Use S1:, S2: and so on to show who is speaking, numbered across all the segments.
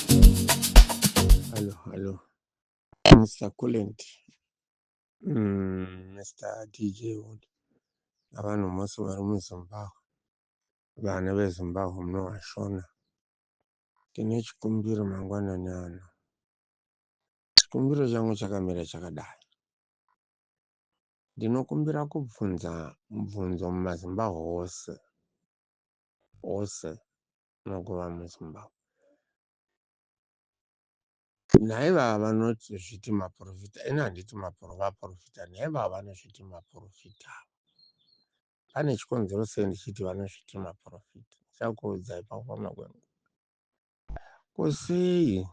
S1: Hello, hello. Mr. Coolant. Mm, Mr. DJ Wood. Abantu mose bari muZimbabwe. Vana veZimbabwe munovashona. Tine chikumbiro mangwanani ano. Chikumbiro changu chakamira chakadai. Ndinokumbira kubvunza mubvunzo mumaZimbabwe ose. Ose. makuva muZimbabwe. Nhai vava vanoti zviti maporofita ini handiti vaporofita nhai vava vanozviti maporofita ava pane chikonzero sei ndichiti vanozviti maporofita ndichakuudzai pakufamba kwenguva ko sei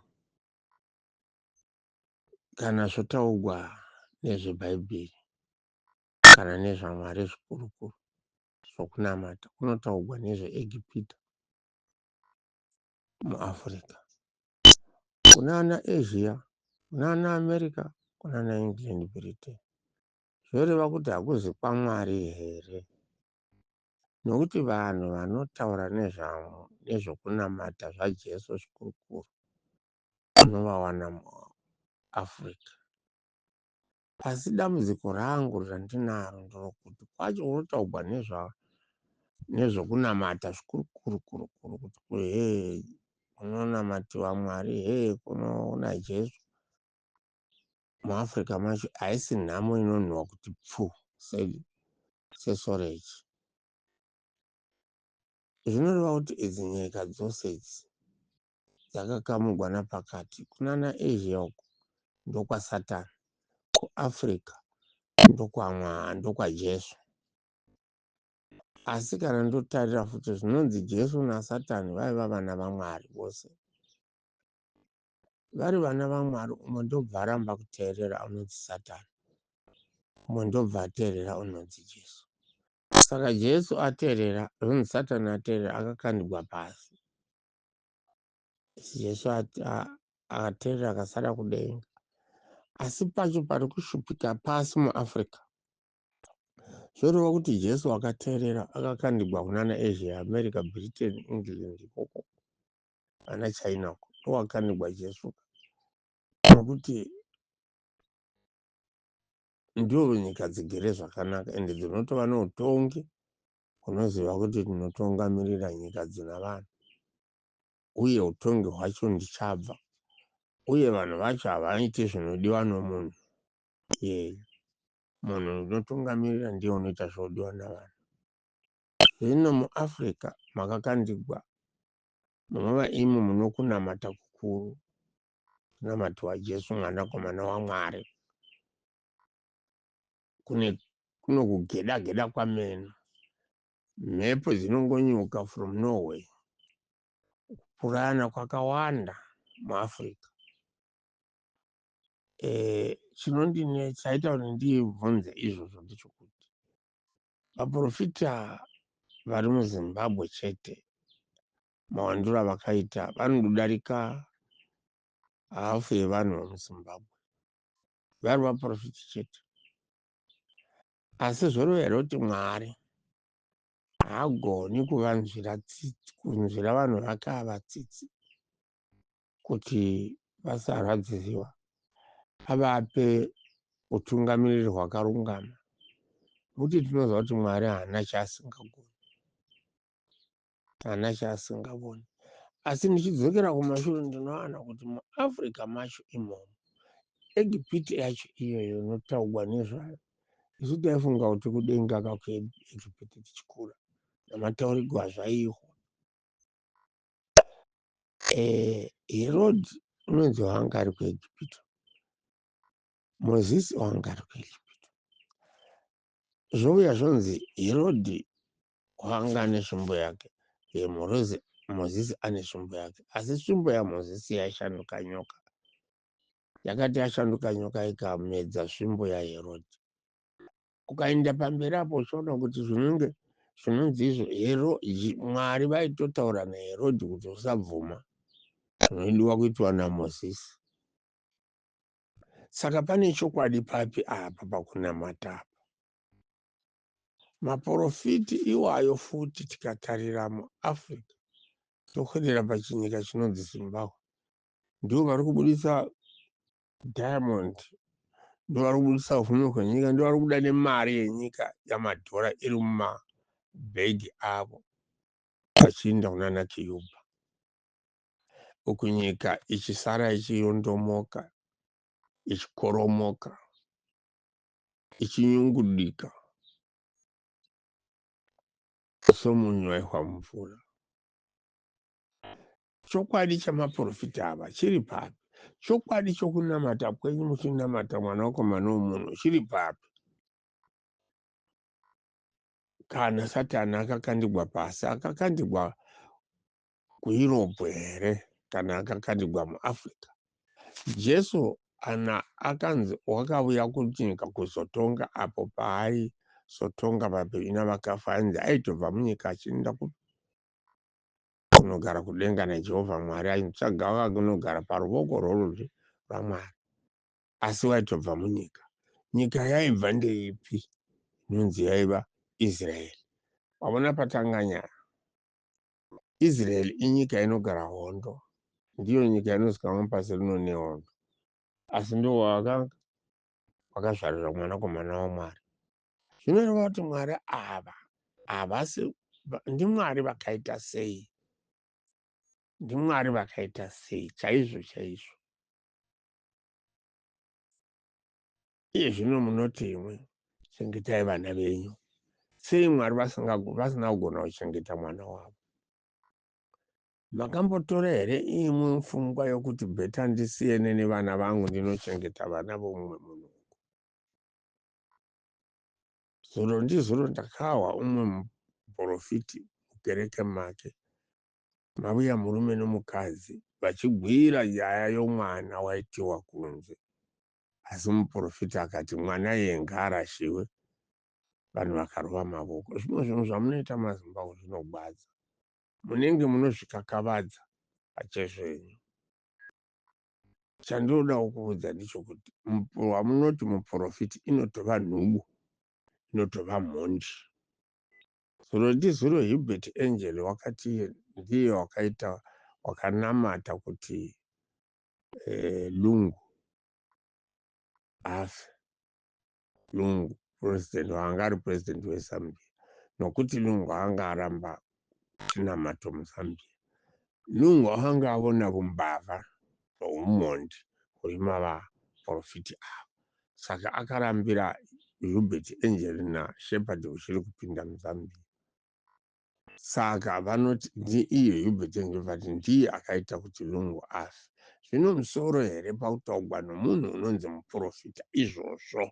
S1: kana zvotaugwa nezvebhaibheri kana nezvamwari zvikurukuru zvokunamata kunotaugwa nezveEgipita muAfrica. Kunana Asia, kunana America, kunana England, Britain. Zvoreva kuti hakuzi kwaMwari here? Nokuti vanhu vanotaura nezvamo nezvokunamata zvaJesu zvikurukuru unovawana muAfrica. Asi dambudziko rangu randinaro nderokuti kwacho kunotaugwa nezva nezvokunamata zvikuru kuru kuru kuru kuti kuhee kunonamatiwa Mwari hee kunona Jesu muAfrica macho haisi nhamo inonhuwa kuti pfu said Sesorechi. Zvinoreva kuti idzi nyika dzose idzi yakakamugwa napakati kunana Asia uko ndokwa Satan ku Africa ndokwa Mwaa ndokwa Jesu asi kana ndotarira futi zvinonzi Jesu na Satan vaiva vana vaMwari vose vari vana vaMwari umwe ndobva aramba kuteerera unonzi Satan umwe ndobva ateerera unonzi Jesu saka Jesu ateerera zvonzi Satan ateerera akakandigwa pasi Jesu akaterera akasara kudenga. Asi pacho pari kushupika pasi muAfrica, zvoreva kuti Jesu akaterera akakandigwa kunana Asia, America, Britain, England ikoko ana China uko ndowakandigwa Jesu nokuti ndiwo nyika dzigere zvakanaka ende dzinotova neutongi Unoziva kuti ndinotungamirira nyika dzina vanhu, uye utongi hwacho ndichabva, uye vanhu vacho havaite zvinodiwa nomunhu iyeyu. Munhu ndinotungamirira ndiye unoita zvinodiwa navanhu. Zvino muAfrica makakandigwa, munova imi munokunamata kukuru, kunamatiwa Jesu Mwanakomana waMwari. kune kuno kugeda geda kwameno mhepo dzinongonyuka from norway kupurana kwakawanda muafrica e, eh, chinondine chaita kuti ndibvunze izvozvo ndechokuti vaprofita vari muzimbabwe chete mawandiro avakaita vanodarika hafu yevanhu vemuzimbabwe vari vaprofiti chete asi zvorevera kuti mwari haagoni kuvanzvira tsitsi kunzvira vanhu vake ava tsitsi kuti vasarwadziziwa avape utungamiriri hwakarungama muti tinoziva kuti mwari haana chaasingagoni haana chaasingavoni asi ndichidzokera kumashure ndinowana kuti muafrica macho imomo egipiti yacho iyoyo inotaugwa nezvayo isu taifunga kuti kudenga kakuegipiti tichikura namataurigwa zvaiihwa e, eh, herodi unonzi wanga ari kuegipito mozisi wanga ari kuegipito zvouya zvonzi herodi Kwanga ane svimbo yake uye Morozi, Mozisi ane svimbo yake. Asi svimbo yaMozisi yaishanduka nyoka. Yakati yashanduka nyoka ikamedza svimbo yaHerodhi. Ukaenda pamberi apo uchiona kuti zvinenge zvinonzi izvo hero Mwari vaitotaura naHerodhi kuti usabvuma zvinodiwa kuitwa naMozisi. Saka pane chokwadi papi apa pakunamata apa? Maporofiti iwayo futi tikatarira muAfrica tokwedera pachinyika chinonzi Zimbabwe ndivo vari kubudisa diamond ndivo vari kubudisa upfumi hwenyika ndivo vari kubuda nemari yenyika yamadhora iri mumabhegi avo vachiinda kunana kiyuba uku nyika ichisara ichiyondomoka ichikoromoka ichinyungudika somunyu waihwa mumvura. Chokwadi chamaprofita ava chiri papi? Chokwadi chokunamata kwenyu muchinamata Mwanakomana womunhu chiri papi? Kana Satani akakandigwa pasi, akakandigwa kuEurope here kana akakanigwa muAfrica? Jesu ana akanzi wakavuya kunyika kuzotonga apo paai sotonga vapenyu navakafa ainzi aitobva munyika achienda kunogara kudenga najehovha mwari ainitsvaga vakunogara paruvoko rworudyi rwamwari asi waitobva munyika nyika yaibva ndeipi inonzi yaiva israeri wavona patanganyara Israel inyika inogara hondo, ndiyo nyika inozikamwa pasi rino nehondo, asi ndiwo wakanga wakazvarira mwanakomana waMwari. Zvinoreva kuti Mwari ava havasi ndiMwari vakaita sei? NdiMwari vakaita sei chaizvo chaizvo? Iye zvino munoti imwi, Chengetai vana venyu. Sei Mwari vasina kugona kuchengeta mwana wavo? Makambotora here imwi mfungwa yokuti bheta ndisiyene nevana vangu ndinochengeta vana vomumwe munhu uku? Zuro ndizuro ndakahwa umwe muporofiti mukereke make mavuya murume nomukadzi vachigwira nyaya yomwana waitiwa kunze Asi muporofita akati mwana iye ngaarashiwe vanhu vakarova mavoko. Zvimwe zvinhu zvamunoita maZimbabwe zvinogwadza. Munenge munozvikakavadza pachezvenyu. Chandinodawo kuudza ndichokuti wamunoti muporofiti inotova nhubu, inotova mhondi. Zuro ndizuro Hubert Angel wakati ndiye wakaita wakanamata kuti lungu afe lungu president waanga ari president wezambia nokuti lungu anga aramba chinamato muzambia lungu anga avona vumbavha noumhondi huri mavaprofiti avo saka akarambira hubert angelina shepherd huchiri kupinda muzambia Saka vanoti ndiiyo Hubert vati ndiye akaita kuti Lungu afe. Zvino musoro here pakutaugwa nomunhu unonzi muporofita izvozvo?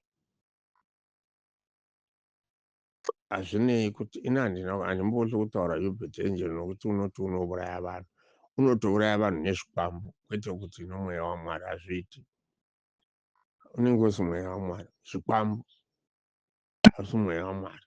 S1: Hazvinei kuti ini handina handimboti kutaura Hubert Angel nokuti unoti unouraya vanhu. Unotouraya vanhu nezvikwambo kwete kuti nomweya waMwari hazviiti. Unenge usi mweya waMwari, zvikwambo. asi mweya waMwari.